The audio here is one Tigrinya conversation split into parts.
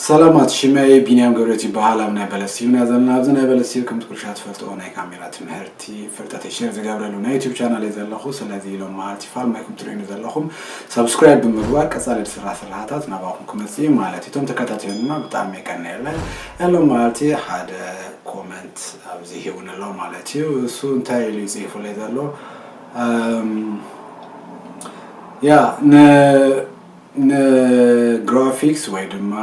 ሰላማት ሽመይ ቢንያም ገብረት ይበሃል ኣብ ናይ በለስ ዩና ዘለና ኣብዚ ናይ በለስ ዩ ከምቲ ኩልሻ ትፈልጥኦ ናይ ካሜራ ትምህርቲ ፍልጠት ሸር ዝገብረሉ ናይ ዩቱብ ቻናል እዩ ዘለኹ ስለዚ ኢሎም መዓልቲ ፋልማይኩም ትርእዩኒ ዘለኹም ሰብስክራይብ ብምግባር ቀፃሊ ዝስራ ስራሕታት ናባኹም ክመፅእ እዩ ማለት እዩ እቶም ተከታተሉና ብጣዕሚ የቀናየለ ያሎም መዓልቲ ሓደ ኮመንት ኣብዚ ሂቡኒ ኣሎ ማለት እዩ እሱ እንታይ ኢሉ እዩ ፅሒፉለይ ዘሎ ያ ንግራፊክስ ወይ ድማ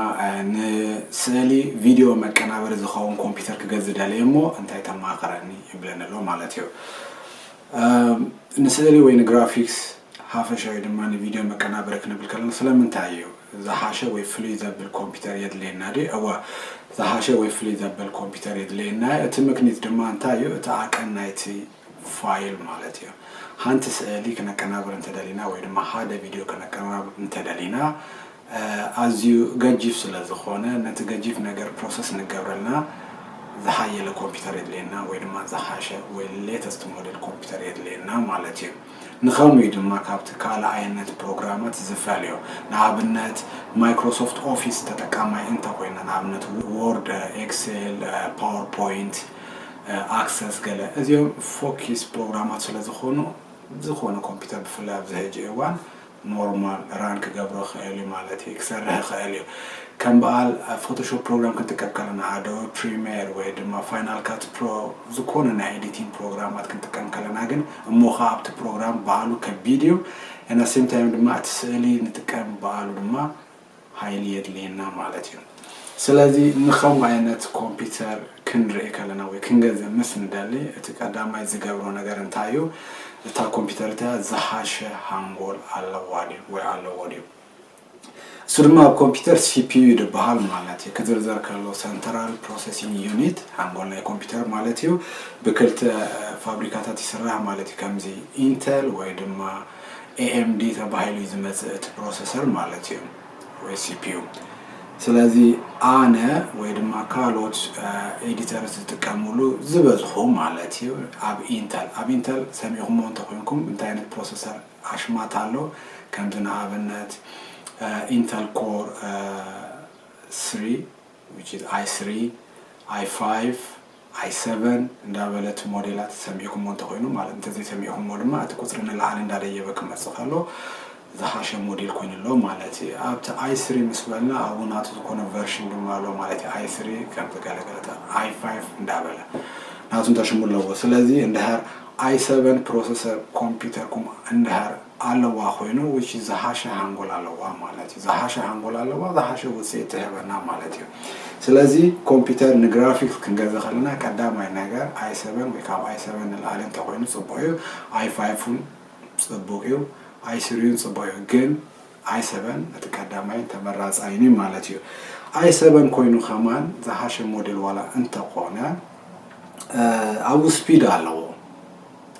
ንስእሊ ቪድዮ መቀናበሪ ዝኸውን ኮምፒውተር ክገዝ ደልየ እሞ እንታይ ተማኽረኒ ይብለኒ ኣሎ ማለት እዩ ንስእሊ ወይ ንግራፊክስ ሓፈሻ ወይ ድማ ንቪድዮ መቀናበሪ ክንብል ከለና ስለምንታይ እዩ ዝሓሸ ወይ ፍልይ ዘብል ኮምፒተር የድልየና ድዩ? እወ ዝሓሸ ወይ ፍልይ ዘበል ኮምፒተር የድልየና እዩ። እቲ ምክኒት ድማ እንታይ እዩ እቲ ዓቀን ናይቲ ፋይል ማለት እዩ። ሓንቲ ስእሊ ክነቀናብር እንተደሊና ወይ ድማ ሓደ ቪድዮ ክነቀናብር እንተደሊና ኣዝዩ ገጂፍ ስለ ዝኾነ ነቲ ገጂፍ ነገር ፕሮሰስ ንገብረልና ዝሓየለ ኮምፒተር የድልየና ወይ ድማ ዝሓሸ ወይ ሌተስት ሞዴል ኮምፒተር የድልየና ማለት እዩ። ንኸምኡ እዩ ድማ ካብቲ ካልኣይነት ፕሮግራማት ዝፈልዮ። ንኣብነት ማይክሮሶፍት ኦፊስ ተጠቃማይ እንተ ኮይና ንኣብነት ዎርድ፣ ኤክሴል፣ ፓወር ፖይንት፣ ኣክሰስ ገለ እዚኦም ፎኪስ ፕሮግራማት ስለ ዝኾኑ ዝኾነ ኮምፒተር ብፍላይ ኣብዚ ሕጂ እዋን ኖርማል ራን ክገብሮ ይኽእል እዩ ማለት እዩ ክሰርሕ ይኽእል እዩ ከም በዓል ፎቶሾፕ ፕሮግራም ክንጥቀብ ከለና ኣዶብ ፕሪሜር ወይ ድማ ፋይናል ካት ፕሮ ዝኾነ ናይ ኤዲቲንግ ፕሮግራማት ክንጥቀም ከለና ግን እሞ ከዓ ኣብቲ ፕሮግራም በዓሉ ከቢድ እዩ እና ሴም ታይም ድማ እቲ ስእሊ ንጥቀም በዓሉ ድማ ሃይሊ የድልየና ማለት እዩ። ስለዚ ንከምኡ ኣይነት ኮምፒተር ክንርኢ ከለና ወይ ክንገዝእ ምስ ንደሊ እቲ ቀዳማይ ዝገብሮ ነገር እንታይ እዩ እታ ኮምፒተር እቲኣ ዝሓሸ ሃንጎል ኣለዋ ድዩ ወይ ኣለዎ ድዩ እሱ ድማ ኣብ ኮምፒተር ሲፒዩ ይድበሃል ማለት እዩ ክዝርዘር ከሎ ሰንትራል ፕሮሰሲንግ ዩኒት ሃንጎል ናይ ኮምፒተር ማለት እዩ ብክልተ ፋብሪካታት ይስራሕ ማለት እዩ ከምዚ ኢንተል ወይ ድማ ኤኤምዲ ተባሂሉ እዩ ዝመፅእ እቲ ፕሮሰሰር ማለት እዩ ወይ ሲፒዩ ስለዚ ኣነ ወይ ድማ ካልኦት ኤዲተር ዝጥቀምሉ ዝበዝሑ ማለት እዩ ኣብ ኢንተል ኣብ ኢንተል ሰሚዕኹሞ እንተኮይንኩም እንታይ ዓይነት ፕሮሰሰር ኣሽማት ኣሎ ከምዚ ንኣብነት ኢንተል ኮር ስሪ which is i three i five i seven እንዳበለ እቲ ሞዴላት ሰሚዕኩሞ እንተኾይኑ ማለት እንተዘይሰሚዕኩሞ ድማ እቲ ቁፅሪ ንላዕሊ እንዳደየበ ክመፅእ ከሎ ዝሓሸ ሞዴል ኮይኑ ኣሎ ማለት እዩ ኣብቲ i three ምስ በልና ኣብኡ ናቱ ዝኾነ ቨርሽን ድማ ኣሎ ማለት እዩ i three ከምዚ ገለገለታ i five እንዳበለ ናቱ እንተሽሙ ኣለዎ ስለዚ እንድሕር i seven ፕሮሰሰር ኮምፒውተርኩም እንድሕር ኣለዋ ኮይኑ which ዝሃሸ ሃንጎል ኣለዋ ማለት እዩ ዝሃሸ ሃንጎል ኣለዋ ዝሃሸ ውጽኢት ትህበና ማለት እዩ ስለዚ ኮምፒተር ንግራፊክስ ክንገዘ ከለና ቀዳማይ ነገር ኣይ ሰበን ወይ ካብ ኣይ ሰበን ንላዕሊ እንተኮይኑ ጽቡቅ እዩ ኣይ ፋይፉን ጽቡቅ እዩ ኣይ ስሪዩን ጽቡቅ እዩ ግን ኣይ ሰበን እቲ ቀዳማይ ተመራጻይን ማለት እዩ ኣይ ሰበን ኮይኑ ከማን ዝሃሸ ሞዴል ዋላ እንተኮነ ኣብኡ ስፒድ ኣለዎ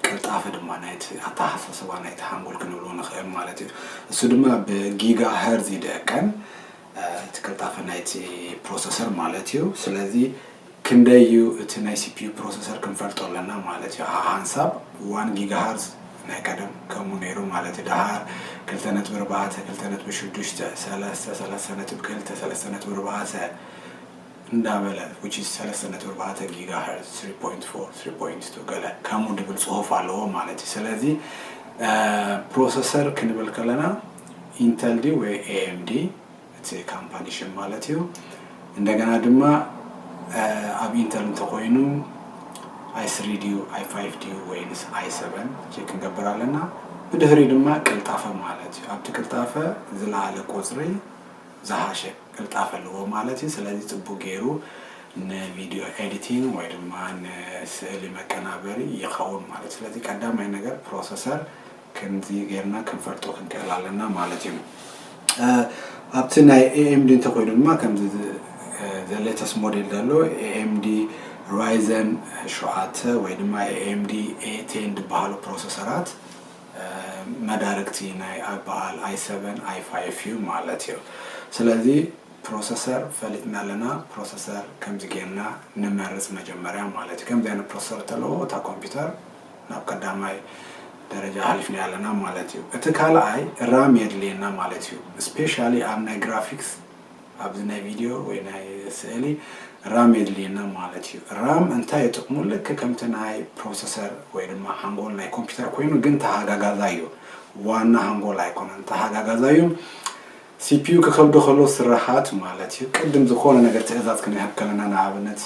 ቅልጣፈ ድማ ናይቲ ኣተሓሳስባ ናይቲ ሓንጎል ክንብሎ ንኽእል ማለት እዩ። እሱ ድማ ብጊጋ ሀርዝ ይደቀን እቲ ቅልጣፈ ናይቲ ፕሮሰሰር ማለት እዩ። ስለዚ ክንደይ እዩ እቲ ናይ ሲፒዩ ፕሮሰሰር ክንፈልጦ ኣለና ማለት እዩ። ሃንሳብ ዋን ጊጋ ሀርዝ ናይ ቀደም ከምኡ ነይሩ ማለት እዩ። ደሃር ክልተ ነጥቢ ኣርባዕተ ክልተ ነጥቢ ሽዱሽተ ሰለስተ ሰለስተ ነጥቢ ክልተ ሰለስተ ነጥቢ ኣርባዕተ እንዳበለ which is ሰለስተ ነጥቢ ኣርባዕተ ጊጋ ሀርዝ three point four three point two ገለ ከምኡ ድብል ጽሁፍ ኣለዎ ማለት እዩ ስለዚ ፕሮሰሰር ክንብል ከለና ኢንተል ዲ ወይ ኤኤምዲ እቲ ካምፓኒ ሽም ማለት እዩ እንደገና ድማ ኣብ ኢንተል እንተኮይኑ ኣይ ስሪ ድዩ ኣይ ፋይቭ ድዩ ወይንስ ኣይ ሰቨን ቼክ ክንገብር ኣለና ብድህሪ ድማ ቅልጣፈ ማለት እዩ ኣብቲ ቅልጣፈ ዝለዓለ ቁፅሪ ዝሃሸ ቅልጣፈ ኣለዎ ማለት እዩ ስለዚ ጽቡቅ ጌሩ ን ቪድዮ ኤዲቲንግ ወይ ድማ ን ስእሊ መቀናበሪ ይከውን ማለት እዩ ስለዚ ቀዳማይ ነገር ፕሮሰሰር ክንዚ ጌርና ክንፈልጦ ክንክእል ኣለና ማለት እዩ ኣብቲ ናይ AMD እንተ ኮይኑ ድማ ከምዚ the latest ሞዴል ዘሎ AMD Ryzen ሸውዓተ ወይ ድማ AMD A10 ዝበሃሉ ፕሮሰሰራት መዳርግቲ ናይ ኣበኣል ኣይ ሰቨን ኣይ ፋይፍ እዩ ማለት እዩ ስለዚ ፕሮሰሰር ፈሊጥና ኣለና ፕሮሰሰር ከምዚ ጌርና ንመርጽ መጀመርያ ማለት እዩ ከምዚ ኣይነት ፕሮሰሰር እተለዎ እታ ኮምፒውተር ናብ ቀዳማይ ደረጃ ሃሊፍና ኣለና ማለት እዩ እቲ ካልኣይ ራም የድልየና ማለት እዩ ስፔሻሊ ኣብ ናይ ግራፊክስ ኣብዚ ናይ ቪድዮ ወይ ናይ ስእሊ ራም የድልየና ማለት እዩ። ራም እንታይ እዩ ጥቅሙ ልክ ከምቲ ናይ ፕሮሰሰር ወይ ድማ ሓንጎል ናይ ኮምፒውተር ኮይኑ ግን ተሃጋጋዛይ እዩ ዋና ሃንጎል ኣይኮነን ተሃጋጋዛይ እዩ ሲፒዩ ክከብዶ ከሎ ስራሓት ማለት እዩ ቅድም ዝኮነ ነገር ትእዛዝ ክንህብ ከለና ንኣብነት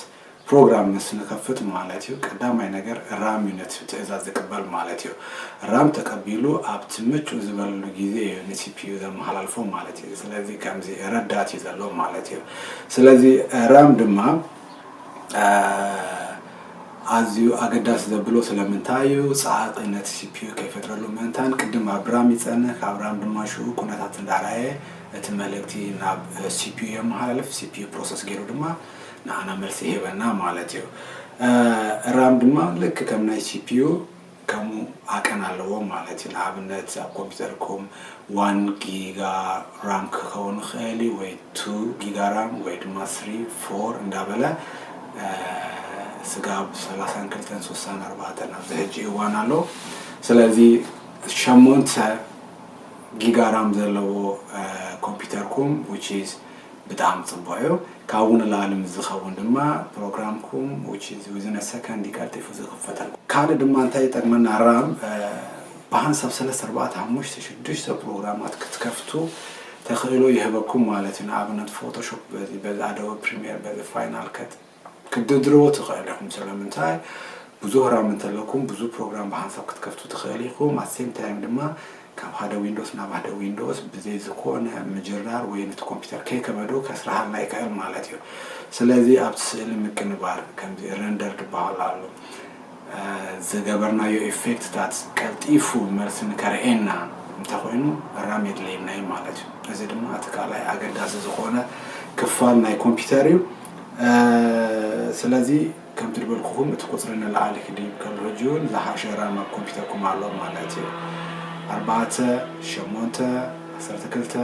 ፕሮግራም ምስ ንከፍት ማለት እዩ ቀዳማይ ነገር ራም እዩ ነቲ ትእዛዝ ዝቅበል ማለት እዩ። ራም ተቀቢሉ ኣብቲ ምጩእ ዝበለሉ ግዜ እዩ ንሲፒዩ ዘመሃላልፎ ማለት እዩ። ስለዚ ከምዚ ረዳት እዩ ዘሎ ማለት እዩ። ስለዚ ራም ድማ ኣዝዩ ኣገዳሲ ዘብሎ ስለምንታይ እዩ ጸኣቂ ነቲ ሲፒዩ ከይፈጥረሉ ምእንታን ቅድም ኣብ ራም ይጸንህ ካብ ራም ድማ ሽኡ ኩነታት እንዳራየ እቲ መልእክቲ ናብ ሲፒዩ የመሃላልፍ ሲፒዩ ፕሮሰስ ገይሩ ድማ ንዓና መልሲ ይህበና ማለት እዩ። ራም ድማ ልክ ከም ናይ ሲፒዩ ከምኡ ዓቀን ኣለዎም ማለት እዩ። ንኣብነት ኣብ ኮምፒተርኩም ዋን ጊጋ ራም ክኸውን ይኽእል እዩ ወይ ቱ ጊጋ ራም ወይ ድማ ስሪ ፎር እንዳበለ ስጋብ ሰላሳን ክልተን ሶሳን ኣርባዕተን ኣብዚ ሕጂ እዋን ኣሎ። ስለዚ ሸሞንተ ጊጋ ራም ዘለዎ ኮምፒተርኩም ዊች ኢዝ ብጣዕሚ ጽቡቅ እዩ ካብኡ ንላእሊ ምስ ዝከውን ድማ ፕሮግራምኩም which is within a second እዩ ቀልጢፉ ዝክፈተልኩም ካልእ ድማ እንታይ ይጠቅመና ራም ብሃንሳብ ሰለስተ ኣርባዕተ ሓሙሽተ ሽዱሽተ ፕሮግራማት ክትከፍቱ ተክእሎ ይህበኩም ማለት እዩ ንኣብነት ፎቶሾፕ በዚ በዚ ኣዶበ ፕሪሚየር በዚ ፋይናል ከት ክትድርድርዎ ትኽእል ኢኹም ስለምንታይ ብዙህ ራም እንተለኩም ብዙህ ፕሮግራም ብሃንሳብ ክትከፍቱ ትኽእል ኢኹም ኣት ሴም ታይም ድማ ካብ ሃደ ዊንዶስ ናብ ሃደ ዊንዶስ ብዘይ ዝኾነ ምጅራር ወይ ነቲ ኮምፒውተር ከይከበዶ ከስርሃልና ይክእል ማለት እዩ ስለዚ ኣብቲ ስእሊ ምቅንባር ከምዚ ረንደር ድበሃል ኣሎ ዝገበርናዮ ኢፌክትታት ቀልጢፉ መልሲ ንከርእየና እንተኾይኑ ራም የድልየና እዩ ማለት እዩ። እዚ ድማ እቲ ካልኣይ ኣገዳሲ ዝኾነ ክፋል ናይ ኮምፒውተር እዩ። ስለዚ ከምቲ ዝበልኩኹም እቲ ቁፅሪ ንላዕሊ ክድይብ ከሎ ሕጂ እውን ዝሓሸ ራም ኣብ ኮምፒውተርኩም ኣሎ ማለት እዩ። ኣርባዕተ ሸሞንተ ዓሰርተ ክልተ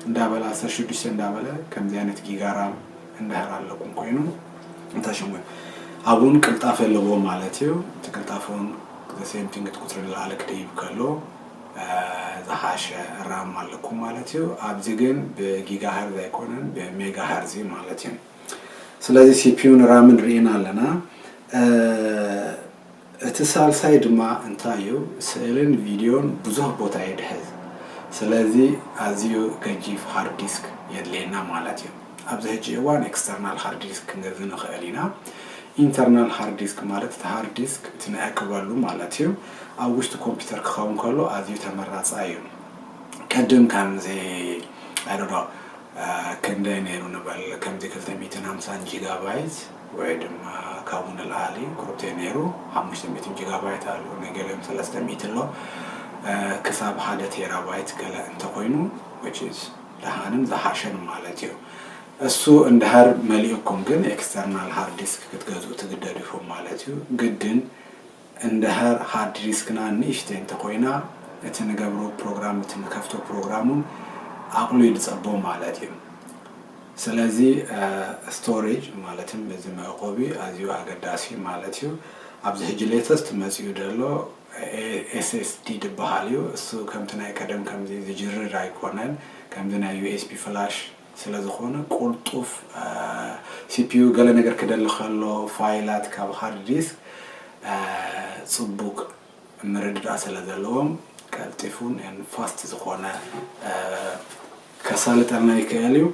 እንዳበለ ዓሰርተ ሽዱሽተ እንዳበለ ከምዚ ዓይነት ጊጋ ራም እንድሕር ኣለኩም ኮይኑ እታ ሽም ኣብኡ ውን ቅልጣፈ ኣለዎም ማለት እዩ እቲ ቅልጣፈ ውን the same thing እቲ ቁጽሪ ንላዕሊ ክድይብ ከሎ ዝሓሸ ራም ኣለኩም ማለት እዩ ኣብዚ ግን ብጊጋ ሀርዝ ኣይኮነን ብሜጋ ሀርዝ እዩ ማለት እዩ ስለዚ ሲፒዩን ራምን ርኢና ኣለና እቲ ሳልሳይ ድማ እንታይ እዩ ስእልን ቪድዮን ብዙህ ቦታ ይድሕዝ ስለዚ ኣዝዩ ገጂፍ ሃርድ ዲስክ የድልየና ማለት እዩ። ኣብዚ ሕጂ እዋን ኤክስተርናል ሃርድ ዲስክ ክንገዝእ ንኽእል ኢና። ኢንተርናል ሃርድ ዲስክ ማለት እቲ ሃርድ ዲስክ እቲ ንዕቅበሉ ማለት እዩ ኣብ ውሽጢ ኮምፒተር ክኸውን ከሎ ኣዝዩ ተመራጻይ እዩ። ቅድም ከምዚ ኣይ ዶንት ኖ ክንደይ ነይሩ ንበል ከምዚ ክልተ ሚእትን ሃምሳን ጂጋባይት፣ ወይ ድማ ካብኡ ንልዓሊ ቁሩብተይ ነይሩ ሓሙሽተ ሚእቲ ጂጋባይት ኣሎ ንገሊኦም ሰለስተ ሚእቲ ኣሎ ክሳብ ሓደ ቴራባይት ገለ እንተኾይኑ which is ደሓንን ዝሓሸን ማለት እዩ እሱ እንድሕር መሊኡኩም ግን ኤክስተርናል ሃርድ ዲስክ ክትገዝኡ ትግደዱ ኢኹም ማለት እዩ ግድን እንድሕር ሃርድ ዲስክና ንእሽተይ እንተኾይና እቲ ንገብሮ ፕሮግራም እቲ ንከፍቶ ፕሮግራም ውን ዓቕሉ ይድጸቦ ማለት እዩ። ስለዚ ስቶሬጅ ማለት እዚ መዕቆቢ ኣዝዩ ኣገዳሲ እዩ ማለት እዩ። ኣብዚ ሕጂ ሌተስት መጺኡ ዘሎ SSD ድበሃል እዩ። እሱ ከምቲ ናይ ቀደም ከምዚ ዝጅርር ኣይኮነን ከምዚ ናይ ዩኤስቢ ፍላሽ ስለዝኾነ ቁልጡፍ ሲፒዩ ገለ ነገር ክደሊ ከሎ ፋይላት ካብ ሃርድ ዲስክ ጽቡቅ ምርድዳእ ስለዘለዎም ቀልጢፉን and fast ዝኾነ ከሳልጠልና ይክእል እዩ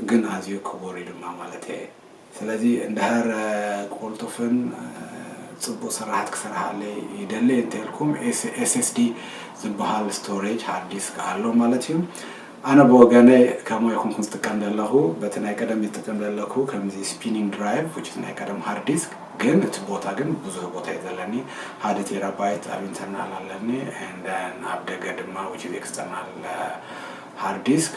ግን ኣዝዩ ክቡር እዩ ድማ ማለተይ እየ። ስለዚ እንድሕር ቁልጡፍን ጽቡቅ ስርሓት ክስርሓለይ ይደሊ እንተልኩም SSD ዝብሃል ስቶሬጅ ሃርድ ዲስክ ኣሎ ማለት እዩ። ኣነ ብወገነይ ከምኡ ኣይኮንኩን ዝጥቀም ዘለኹ በቲ ናይ ቀደም እዩ ዝጥቀም ዘለኩ ከምዚ ስፒኒንግ ድራይቭ which is ናይ ቀደም ሃርድ ዲስክ ግን እቲ ቦታ ግን ብዙህ ቦታ እዩ ዘለኒ ሓደ ቴራባይት ኣብ ኢንተርናል ኣለኒ and then ኣብ ደገ ድማ which is ኤክስተርናል ሃርድ ዲስክ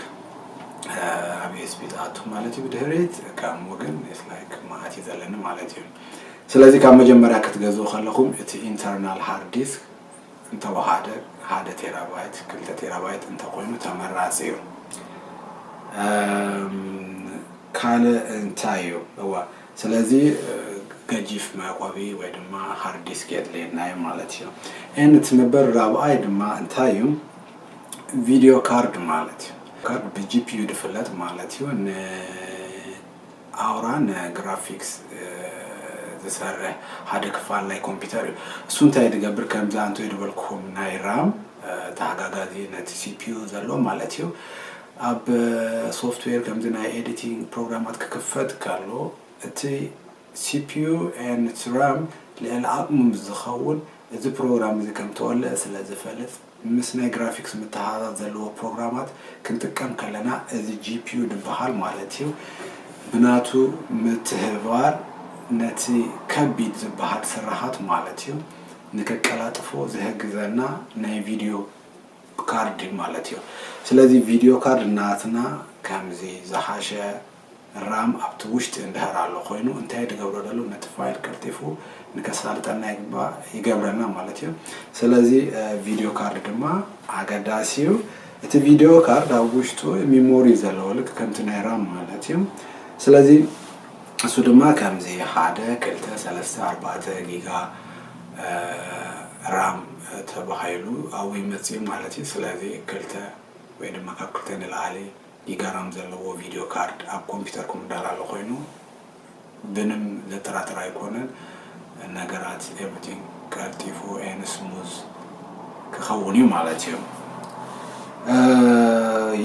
ኣብ ኤስቢ ትኣቱ ማለት እዩ ብድሕሪት ከም ወገን ላይክ መዓት እዩ ዘለኒ ማለት እዩ ስለዚ ካብ መጀመርያ ክትገዝኡ ከለኹም እቲ ኢንተርናል ሃርድ ዲስክ እንተወሓደ ሓደ ቴራባይት ክልተ ቴራባይት እንተኮይኑ ተመራፂ እዩ ካልእ እንታይ እዩ እዋ ስለዚ ገጂፍ መዕቆቢ ወይ ድማ ሃርድ ዲስክ የድልየና እዩ ማለት እዩ ን እቲ መበል ራብኣይ ድማ እንታይ እዩ ቪድዮ ካርድ ማለት እዩ ካርድ ብጂፒዩ ዝፍለጥ ማለት እዩ ንኣውራ ንግራፊክስ ዝሰርሕ ሓደ ክፋል ናይ ኮምፒውተር እዩ እሱ እንታይ ዝገብር ከምዚ ኣንቶ ዝበልኩኹም ናይ ራም ተሓጋጋዚ ነቲ ሲፒዩ ዘሎ ማለት እዩ ኣብ ሶፍትዌር ከምዚ ናይ ኤዲቲንግ ፕሮግራማት ክክፈት ከሎ እቲ ሲፒዩ ን ራም ልዕሊ ዓቕሙ ምስ ዝኸውን እዚ ፕሮግራም እዚ ከም ተወልዐ ስለ ዝፈልጥ ምስ ናይ ግራፊክስ ምትሕሓዛዝ ዘለዎ ፕሮግራማት ክንጥቀም ከለና እዚ GPU ድበሃል ማለት እዩ ብናቱ ምትህብባር ነቲ ከቢድ ዝበሃል ስራሓት ማለት እዩ ንከቀላጥፎ ዝህግዘና ናይ ቪድዮ ካርድ ማለት እዩ ስለዚ ቪድዮ ካርድ ናትና ከምዚ ዝሓሸ ራም ኣብቲ ውሽጢ እንድሕር ኣሎ ኮይኑ እንታይ ድገብሮ ደሎ ነቲ ፋይል ቀልጢፉ ንከሳልጠልና ይግባእ ይገብረና ማለት እዩ ስለዚ ቪድዮ ካርድ ድማ ኣገዳሲ እዩ እቲ ቪድዮ ካርድ ኣብ ውሽጡ ሚሞሪ ዘለዎ ልክ ከምቲ ናይ ራም ማለት እዩ ስለዚ እሱ ድማ ከምዚ ሓደ ክልተ ሰለስተ ኣርባዕተ ጊጋ ራም ተባሂሉ ኣብኡ ይመፅእ ማለት እዩ ስለዚ ክልተ ወይ ድማ ካብ ክልተ ንላዕሊ ይገረም ዘለዎ ቪድዮ ካርድ ኣብ ኮምፒተርኩም ዳላሎ ኮይኑ ብንም ዘጥራጥር ኣይኮነን ነገራት ኤቭሪቲንግ ቀልጢፉ ኤን ስሙዝ ክኸውን እዩ ማለት እዩ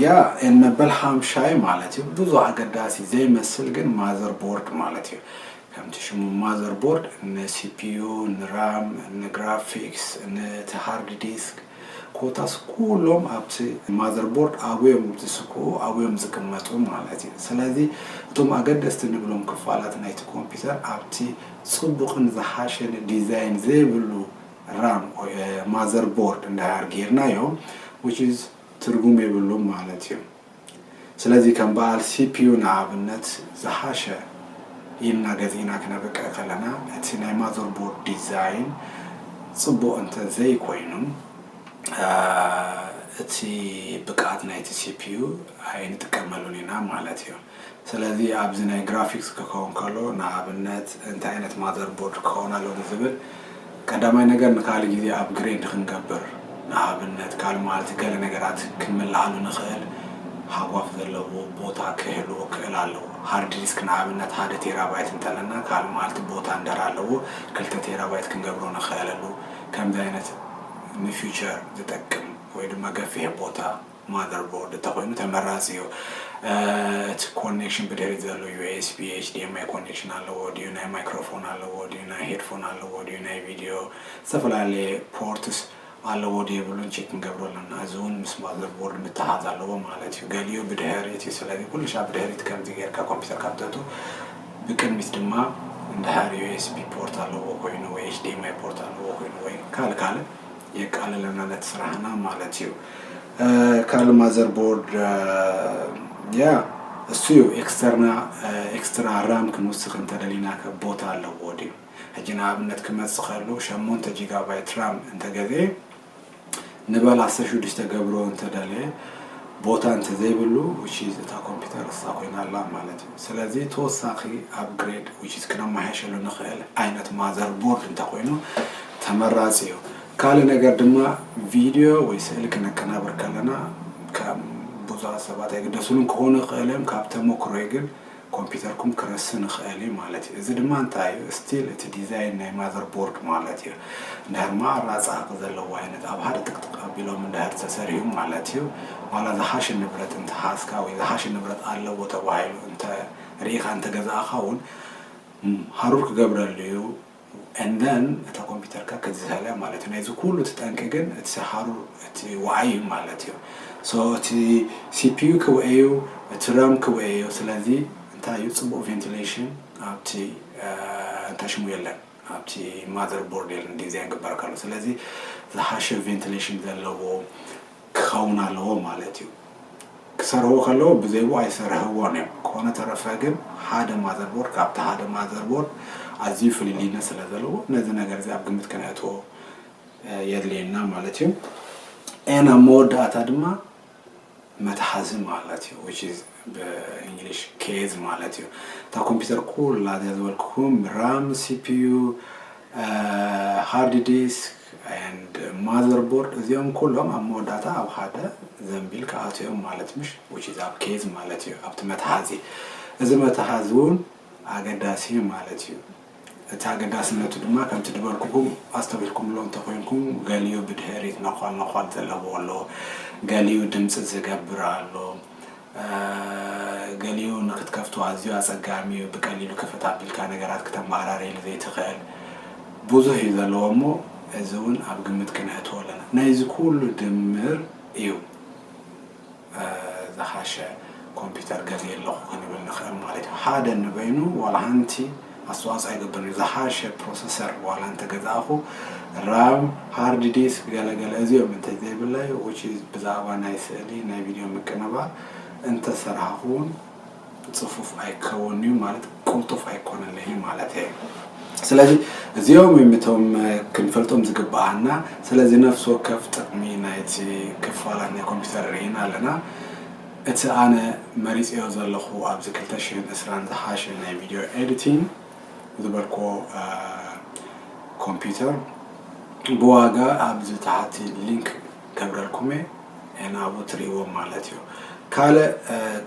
ያ ኤን በልሃም ሻይ ማለት እዩ ብዙ ኣገዳሲ ዘይመስል ግን ማዘር ቦርድ ማለት እዩ ከምቲ ሽሙ ማዘር ቦርድ ንሲፒዩ ንራም ንግራፊክስ ንቲ ሃርድ ዲስክ ኮታስ ኩሎም ኣብቲ ማዘር ቦርድ ኣብዮም ዝስክኡ ኣብዮም ዝቅመጡ ማለት እዩ። ስለዚ እቶም ኣገደስቲ ንብሎም ክፋላት ናይቲ ኮምፒተር ኣብቲ ጽቡቕን ዝሓሸን ዲዛይን ዘይብሉ ራም ወይ ማዘር ቦርድ እንድሕር ጌርናዮ which is ትርጉም የብሉን ማለት እዩ። ስለዚ ከም በኣል ሲፒዩ ንኣብነት ዝሓሸ ኢልና ገዚእና ክነብቅዕ ከለና እቲ ናይ ማዘርቦርድ ዲዛይን ጽቡቕ እንተ ዘይኮይኑ እቲ ብቅዓት ናይቲ ሲፒዩ ኣይንጥቀመሉን ኢና ማለት እዩ። ስለዚ ኣብዚ ናይ ግራፊክስ ክከውን ከሎ ንኣብነት እንታይ ዓይነት ማዘር ቦርድ ክከውን ኣለዎ ንዝብል ቀዳማይ ነገር ንካልእ ግዜ ኣፕግሬድ ክንገብር ንኣብነት ካልእ መዓልቲ ገለ ነገራት ክንምልኣሉ ንክእል ሃጓፍ ዘለዎ ቦታ ክህልዎ ክእል ኣለዎ ሃርድ ዲስክ ንኣብነት ሓደ ቴራባይት እንተለና ካልእ መዓልቲ ቦታ እንደር ኣለዎ ክልተ ቴራባይት ክንገብሮ ንክእለሉ ከምዚ ዓይነት ንፊቸር ዝጠቅም ወይ ድማ ገፊሕ ቦታ ማዘር ቦርድ እንተኾይኑ ተመራፂ እዩ። እቲ ኮኔክሽን ብድሕሪት ዘሎ ዩኤስቢ፣ ኤችዲኤምኣይ ኮኔክሽን ኣለዎ ድዩ፣ ናይ ማይክሮፎን ኣለዎ ድዩ፣ ናይ ሄድፎን ኣለዎ ድዩ፣ ናይ ቪድዮ ዝተፈላለየ ፖርትስ ኣለዎ ዶ የብሉን ቼክ ክንገብሮ ኣለና። እዚ እውን ምስ ማዘር ቦርድ ምትሓዝ ኣለዎ ማለት እዩ። ገሊኡ ብድሕሪት እዩ። ስለዚ ኩሉ ሻዕ ብድሕሪት ከምዚ ጌርካ ኮምፒተርካ ምተቱ። ብቅድሚት ድማ እንድሕር ዩኤስቢ ፖርት ኣለዎ ኮይኑ ወይ ኤችዲኤምኣይ ፖርት ኣለዎ ኮይኑ ወይ ካልእ ካልእ የቃልለና ነቲ ስራሕና ማለት እዩ ካልእ ማዘር ቦርድ ያ እሱ እዩ ኤክስተርና ኤክስትራ ራም ክንውስኽ እንተደሊና ከ ቦታ ኣለዎ ድዩ ሕጂ ንኣብነት ክመጽእ ከሉ ሸሞንተ ጂጋባይት ራም እንተገዝኤ ንበል ዓሰርተ ሽዱሽተ ገብሮ እንተደለየ ቦታ እንተዘይብሉ ውሽ እታ ኮምፒውተር እሳ ኮይና ኣላ ማለት እዩ ስለዚ ተወሳኺ ኣብግሬድ ውሽ ክነመሓየሸሉ ንኽእል ዓይነት ማዘር ቦርድ እንተኮይኑ ተመራጺ እዩ። ካልእ ነገር ድማ ቪድዮ ወይ ስእሊ ክነቀናብር ከለና ከም ብዙሃት ሰባት ኣይግደሱሉን ክኾኑ ይኽእሉ እዮም ካብ ተሞክሮይ ግን ኮምፒተርኩም ክረስን ይኽእል እዩ ማለት እዩ። እዚ ድማ እንታይ እዩ ስቲል እቲ ዲዛይን ናይ ማዘር ቦርድ ማለት እዩ። እንድሕር ማኣ ራጻ ዘለዎ ዓይነት ኣብ ሓደ ጥቅጥቅ ኣቢሎም እንድሕር ተሰሪሁ ማለት እዩ ዋላ ዝሓሸ ንብረት እንተሓዝካ ወይ ዝሓሸ ንብረት ኣለዎ ተባሂሉ እንተ ርኢኻ እንተገዛእኻ እውን ሃሩር ክገብረሉ እዩ። and then እታ ኮምፒተርካ ክትዝህል እያ ማለት እዩ ናይዚ ኩሉ እቲ ጠንቂ ግን እቲ ሰኻሩ እቲ ዋዓይ እዩ ማለት እዩ so እቲ ሲፒዩ ክውኤ እዩ እቲ ራም ክውኤ እዩ ስለዚ እንታይ እዩ ፅቡቅ ቬንቲሌሽን ኣብቲ እንታይ ሽሙ የለን ኣብቲ ማዘር ቦርድ የለን ዲዛይን ግበር ከሎ ስለዚ ዝሓሸ ቬንቲሌሽን ዘለዎ ክኸውን ኣለዎ ማለት እዩ። ክሰርህዎ ከለዉ ብዘይብኡ ኣይሰርህዎን እዮም። ኮነ ተረፈ ግን ሓደ ማዘርቦርድ ካብቲ ሓደ ማዘርቦርድ ኣዝዩ ፍልልይነት ስለ ዘለዎ ነዚ ነገር እዚ ኣብ ግምት ከነእትዎ የድልየና ማለት እዩ። ኤን ኣብ መወዳእታ ድማ መትሓዚ ማለት እዩ which is ብእንግሊሽ ኬዝ ማለት እዩ። እታ ኮምፒውተር ኩላ እዚኣ ዝበልኩኩም ራም፣ ሲፒዩ፣ ሃርድ ዲስክ and ማዘር ቦርድ እዚኦም ኩሎም ኣብ መወዳእታ ኣብ ሓደ ዘንቢል ክኣትው እዮም ማለት ምሽ which is ኣብ ኬዝ ማለት እዩ ኣብቲ መትሓዚ እዚ መትሓዚ እውን ኣገዳሲ እዩ ማለት እዩ እቲ ኣገዳስነቱ ድማ ከምቲ ድበልኩኩም ኣስተውልኩምሎ እንተኮይንኩም ገሊኡ ብድሕሪት ነኳል ነኳል ዘለዎ ኣሎ ገሊኡ ድምፂ ዝገብር ኣሎ ገሊኡ ንክትከፍቶ ኣዝዩ ኣጸጋሚ እዩ፣ ብቀሊሉ ክፍት ኣቢልካ ነገራት ክተመዓራርየሉ ዘይትኽእል ብዙሕ እዩ ዘለዎ እሞ እዚ እውን ኣብ ግምት ክነእትዎ ኣለና። ናይዚ ኩሉ ድምር እዩ ዝሓሸ ኮምፒተር ገዝየ ኣለኹ ክንብል ንኽእል ማለት እዩ። ሓደ ንበይኑ ዋላ ሓንቲ ኣስተዋፅኦ ይገብር እዩ። ዝሓሸ ፕሮሰሰር ዋላ እንተገዛእኹ ራም፣ ሃርድ ዲስክ ገለ ገለ እዚኦም እንተዘይብለይ which is ብዛዕባ ናይ ስእሊ ናይ ቪድዮ ምቅንባ እንተሰርሃኹ ውን ፅፉፍ ኣይከውን እዩ ማለት ቁልጡፍ ኣይኮነለይ እዩ ማለት እየ። ስለዚ እዚኦም እዮም እቶም ክንፈልጦም ዝግብኣና። ስለዚ ነፍሲ ወከፍ ጥቕሚ ናይቲ ክፋላት ናይ ኮምፒውተር ርኢና ኣለና። እቲ ኣነ መሪጸዮ ዘለኹ ኣብዚ ክልተ ሽሕን ዕስራን ዝሓሸ ናይ ቪድዮ ኤዲቲንግ ዝበልክዎ ኮምፒዩተር ብዋጋ ኣብዚ ታሕቲ ሊንክ ገብረልኩም'የ ንኣብኡ ትርእይዎም ማለት'ዩ። ካልእ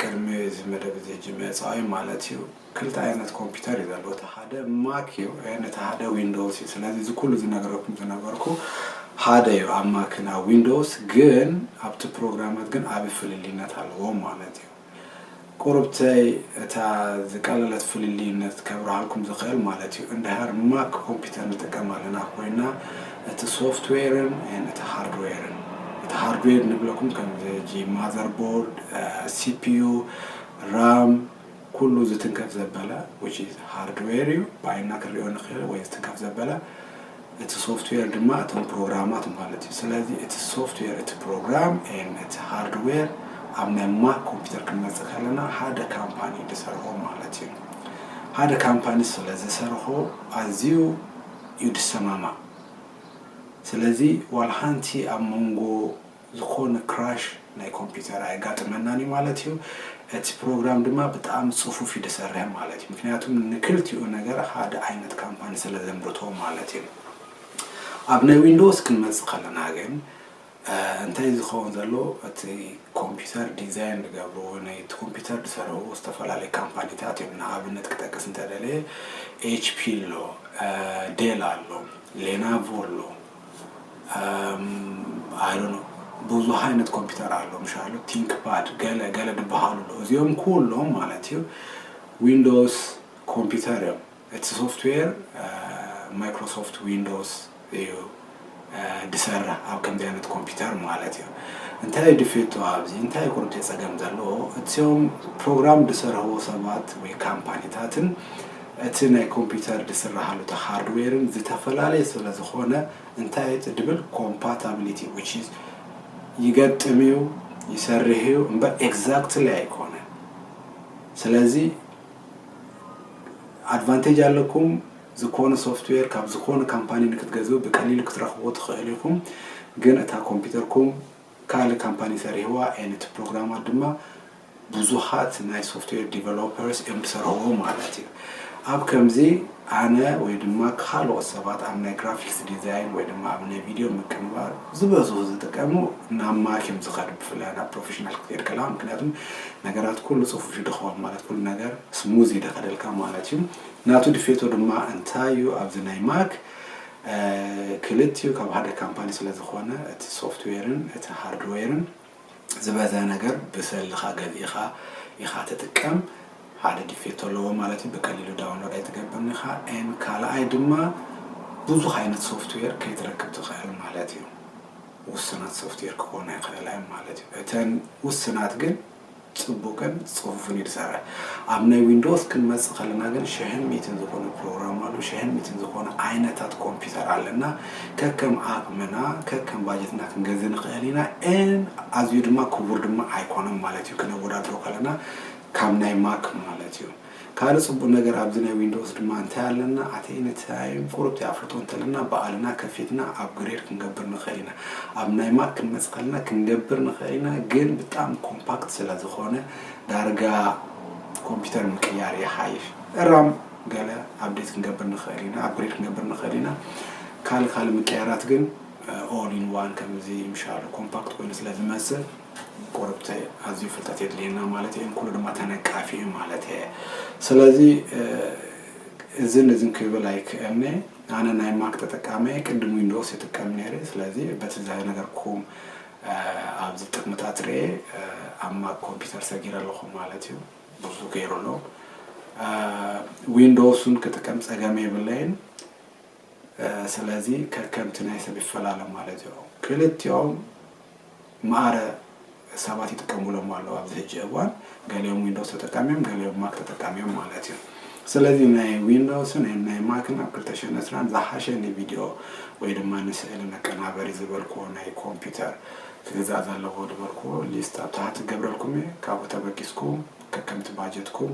ቅድሚ እዚ መደብ እዚ ጅመጽኣይ ማለት'ዩ ክልተ ኣይነት ኮምፒተር እዩ ዘሎ እቲ ሓደ ማክ እዩ ን እቲ ሓደ ዊንዶውስ እዩ ስለዚ እዚ ኩሉ ዝነገረኩም ዝነበርኩ ሓደ እዩ ኣብ ማክን ኣብ ዊንዶውስ ግን ኣብቲ ፕሮግራማት ግን ኣብ ፍልልይነት ኣለዎም ማለት እዩ ቁርብተይ እታ ዝቀለለት ፍልልይነት ከብርሃልኩም ዝኽእል ማለት እዩ እንድሃር ማክ ኮምፒተር ንጥቀም ኣለና ኮይና እቲ ሶፍትዌርን ን እቲ ሃርድዌርን እቲ ሃርድዌር ንብለኩም ከምዚ ማዘርቦርድ ሲፒዩ ራም ኩሉ ዝትንከፍ ዘበለ which is hardware እዩ ብዓይንና ክንሪኦ ንኽእል ወይ ዝትንከፍ ዘበለ እቲ ሶፍትዌር ድማ እቶም ፕሮግራማት ማለት እዩ ስለዚ እቲ ሶፍትዌር እቲ ፕሮግራም ን እቲ ሃርድዌር ኣብ ናይ ማክ ኮምፒውተር ክንመፅእ ከለና ሓደ ካምፓኒ ዝሰርሖ ማለት እዩ ሓደ ካምፓኒ ስለ ዝሰርሖ ኣዝዩ እዩ ድሰማማዕ ስለዚ ዋላ ሓንቲ ኣብ መንጎ ዝኾነ ክራሽ ናይ ኮምፒተር ኣየጋጥመናን እዩ ማለት እዩ። እቲ ፕሮግራም ድማ ብጣእሚ ጽፉፍ እዩ ድሰርሕ ማለት እዩ። ምክንያቱ ንክልቲኡ ነገር ሓደ ዓይነት ካምፓኒ ስለ ዘምርቶ ማለት እዩ። ኣብ ናይ ዊንዶውስ ክንመጽእ ከለና ግን እንታይ እዩ ዝኸውን ዘሎ እቲ ኮምፒተር ዲዛይን ዝገብርዎ ናይቲ ኮምፒተር ዝሰርሕዎ ዝተፈላለዩ ካምፓኒታት እዮም ንኣብነት ክጠቅስ እንተደለየ ኤችፒ ኣሎ ዴል ኣሎ ሌናቮ ኣሎ ኣይዶኖ ብዙሕ ዓይነት ኮምፒተር ኣሎ ምሻሉ ቲንክ ፓድ ገለ ገለ ድበሃሉ ኣሎ እዚኦም ኩሎም ማለት እዩ ዊንዶውስ ኮምፒተር እዮም እቲ ሶፍትዌር ማይክሮሶፍት ዊንዶውስ እዩ ድሰርሕ ኣብ ከምዚ ዓይነት ኮምፒተር ማለት እዩ እንታይ ድፌቶ ኣብዚ እንታይ ቁርብ ፀገም ዘለዎ እቲኦም ፕሮግራም ድሰርሕዎ ሰባት ወይ ካምፓኒታትን እቲ ናይ ኮምፒተር ድስራሃሉ እቲ ሃርድዌርን ዝተፈላለየ ስለ ዝኾነ እንታይ እዩ ትድብል ኮምፓታብሊቲ ዊች ኢዝ ይገጥም እዩ ይሰርህ እዩ እምበር ኤግዛክትሊ ኣይኮነን ስለዚ ኣድቫንቴጅ ኣለኩም ዝኾነ ሶፍትዌር ካብ ዝኾነ ካምፓኒ ንክትገዝኡ ብቀሊሉ ክትረኽብዎ ትኽእሉ ኢኹም ግን እታ ኮምፒተርኩም ካልእ ካምፓኒ ሰሪሕዋ and እቲ ፕሮግራማት ድማ ብዙሓት ናይ ሶፍትዌር ዲቨሎፐርስ እዮም ዝሰርሕዎ ማለት እዩ። ኣብ ከምዚ ኣነ ወይ ድማ ካልኦት ሰባት ኣብ ናይ ግራፊክስ ዲዛይን ወይ ድማ ኣብ ናይ ቪድዮ ምቅንባር ዝበዝሑ ዝጥቀሙ ናብ ማክ እዮም ዝኸዱ ብፍላይ ናብ ፕሮፌሽናል ክትከድ ከለኻ ምክንያቱም ነገራት ኩሉ ጽፉፍ ይድኸውን ማለት ኩሉ ነገር ስሙዝ ይደኸደልካ ማለት እዩ። ናቱ ድፌቶ ድማ እንታይ እዩ ኣብዚ ናይ ማክ ክልቲኡ ካብ ሓደ ካምፓኒ ስለዝኾነ እቲ ሶፍትዌርን እቲ ሃርድዌርን ዝበዝሐ ነገር ብሰልኻ ገዚእኻ ኢኻ ትጥቀም ሓደ ዲፌት ኣለዎ ማለት እዩ ብቀሊሉ ዳውንሎድ ኣይትገብርን ኢኻ ን ካልኣይ ድማ ብዙሕ ዓይነት ሶፍትዌር ከይትረክብ ትኽእል ማለት እዩ ውስናት ሶፍትዌር ክኾና ይኽእላ እዮም ማለት እዩ እተን ውስናት ግን ጽቡቅን ጽፉፍን እዩ ዝሰርሕ። ኣብ ናይ ዊንዶውስ ክንመጽእ ከለና ግን ሽሕን ሚእትን ዝኾነ ፕሮግራም ኣሎ፣ ሽሕን ሚእትን ዝኾነ ዓይነታት ኮምፒተር ኣለና። ከከም ዓቅምና ከከም ባጀትና ክንገዝእ ንኽእል ኢና and ኣዝዩ ድማ ክቡር ድማ ኣይኮነን ማለት እዩ ክነወዳድሮ ከለና ካብ ናይ ማክ ማለት እዩ። ካልእ ጽቡቅ ነገር ኣብዚ ናይ ዊንዶውስ ድማ እንታይ ኣለና ኣቲ ንትያይም ቁሩብ ዘይኣፍልጦ እንተለና ባኣልና ከፊትና ኣፕግሬድ ክንገብር ንክእል ኢና ኣብ ናይ ማክ ክንመጽእ ከለና ክንገብር ንክእል ኢና ግን ብጣሚ ኮምፓክት ስለ ዝኮነ ዳርጋ ኮምፒተር ምቅያር ይሓይሽ ራም ገለ ኣፕዴት ክንገብር ንክእል ኢና ኣፕግሬድ ክንገብር ንክእል ኢና ካልእ ካልእ ምቅያራት ግን ኦል ኢን ዋን ከምዚ ምሻሉ ኮምፓክት ኮይኑ ስለ ዝመጽእ ቆርብተይ ኣዝዩ ፍልጠት የድልየና ማለት እየ ንኩሉ ድማ ተነቃፊ እዩ ማለት እየ ስለዚ እዝን እዝን ክብል ኣይክእልኒ ኣነ ናይ ማክ ተጠቃሚ እየ ቅድም ዊንዶውስ ይጥቀም ነይረ ስለዚ በቲ ዝነገርኩም ኣብዚ ጥቅምታት ርኤ ኣብ ማክ ኮምፒውተር ሰጊረ ኣለኹ ማለት እዩ ብዙ ገይሩ ኣሎ ዊንዶውስን ክጥቀም ፀገም የብለይን ስለዚ ከከምቲ ናይ ሰብ ይፈላለ ማለት እዮ። ክልቲኦም ማኣረ ሰባት ይጥቀሙሎም ኣለው ኣብዚ ሕጂ እዋን ገሊኦም ዊንዶውስ ተጠቃሚ እዮም ገሊኦም ማክ ተጠቃሚ እዮም ማለት እዩ። ስለዚ ናይ ዊንዶውስን ናይ ማክን ኣብ ክልተ ሽሕን ዕስራን ዝሓሸ ንቪድዮ ወይ ድማ ንስእሊ መቀናበሪ ዝበልክዎ ናይ ኮምፒተር ክግዛእ ዘለዎ ዝበልክዎ ሊስት ኣብ ታሕቲ ክገብረልኩም እየ ካብኡ ተበጊስኩም ከከምቲ ባጀትኩም